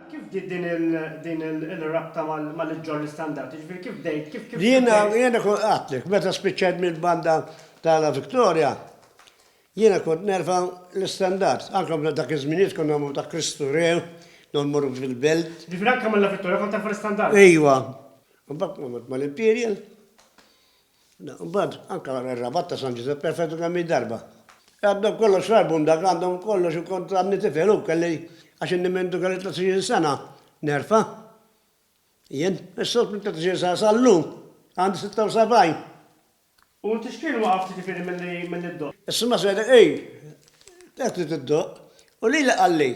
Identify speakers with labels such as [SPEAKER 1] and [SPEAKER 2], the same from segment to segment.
[SPEAKER 1] Kif bdiet din il-rabta mal-Iġġorr l-Istandard? Jiġifieri kif bdejt, kif bdejt? Jiena, jiena
[SPEAKER 2] kont għedtlek, meta spiċċajt mill-banda ta' La Victoria, jiena kont nerfa' l-Istandard. Anke dak iż-żminijiet konna mmorru ta' Kristu Re, konna mmorru fil-belt. Jiġifieri anke minn La Victoria
[SPEAKER 1] kont terfa' l-Istandard? Ejwa.
[SPEAKER 2] Imbagħad kont mort mal-Imperial. Imbagħad anke wara r-rabat ta' San Ġużepp perfettu kemm-il darba. Għaddew kollox l-album dak, għandhom kollox u kont għadni tifel u kelli, għax inni minn dun kelli tliet għoxrin sena, nerfa'. Jien, issa minn tliet għoxrin sena sal-lum, għandi sitta u sebgħin. U inti
[SPEAKER 1] x'kien waqqafk jiġifieri milli ddoqq? Is-Sinjura Sejda,
[SPEAKER 2] Ejn, għedt li tiddoqq. U lili qalli,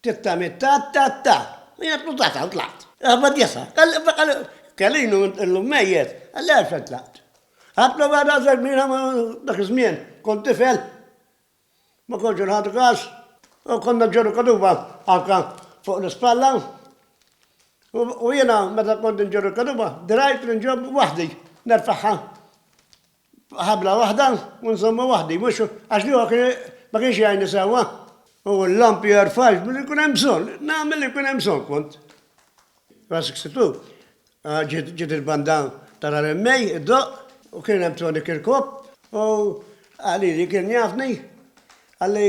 [SPEAKER 2] Titta mitta tta tta. Hija tnutata u tlaqt. Aħbad jesa. Kelinu illum mejjet, għalli għalfejn tlaqt. Ħadt l-ewwel rażel kbir dak iż-żmien, kont tifel. Ma kontx inħadu kas. U konna nġorru kaduba anke fuq l-ispalla. U jiena meta kont inġorru l-kaduba, dirgħajt li nġobb waħdi, nerfagħha. ħabla waħda u nżommha waħdi, mhux għax l-ieħor kien ma kienx jgħinni sewwa. U l-lampi jerfax billi jkun hemm bżonn, nagħmel li jkun hemm bżonn kont. Ra 62, ah, ġiet il-banda tara l-emmej, id-doq, u kien hemm Tony Kirkop, u għalili kien jafni, għalli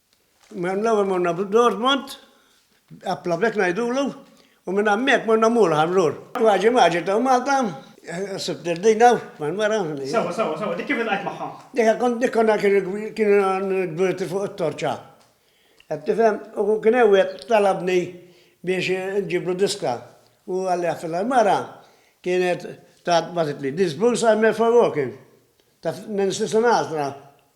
[SPEAKER 2] Mela l-ewwel morna Dortmund, applavet ngħidulu, u minn hemmhekk morna Mulħan lur. Maġi maġi ta' Malta, sibt il-din hawn mal-mara. Sewwa, sewwa, sewwa, dik kif
[SPEAKER 1] iltqajt magħha? Dik kont dik konna
[SPEAKER 2] kienu kbirti fuq it-torċa. Qed tifhem? U kien hemm wieħed talabni biex inġiblu diska u qalli għafilha l-mara kienet tat bagħtitli This blues I met for walking ta' Nancy Sinatra.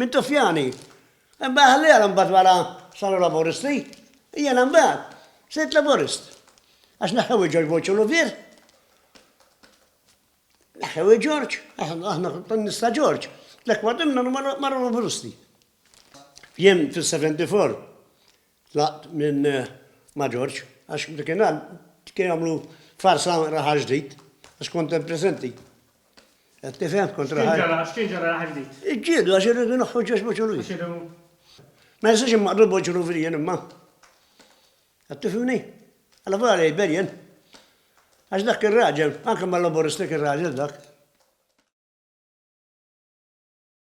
[SPEAKER 2] Mintufjani. Imbagħad ħalliha għal imbagħad wara saru Laburisti. Jiena imbagħad sirt Laburist. Għax neħħew il-Ġorġ Bush u Louvier. Neħħew il-Ġorġ, aħna kont nista' Ġorġ. Tlekk wadimna marru Laburisti. Jien fis-74 Tlaqt minn ma' Ġorġ għax dakinhar kienu jagħmlu farsa raħal ġdid għax kont hemm preżenti. Qed tifhem? Kont X'kien raħal. ġara, x'kien ġara raħal ġdid?
[SPEAKER 1] Iġġieldu għax irridu
[SPEAKER 2] naħħu Ġorġ Boċurujien. Għax irridu. Ma jistax immaqdu l-Boċuruvijien imma. Qed tifhimni? Alla volja li jbejjen. Għax dak ir-raġel, anke ma' Laburisti kien raġel dak.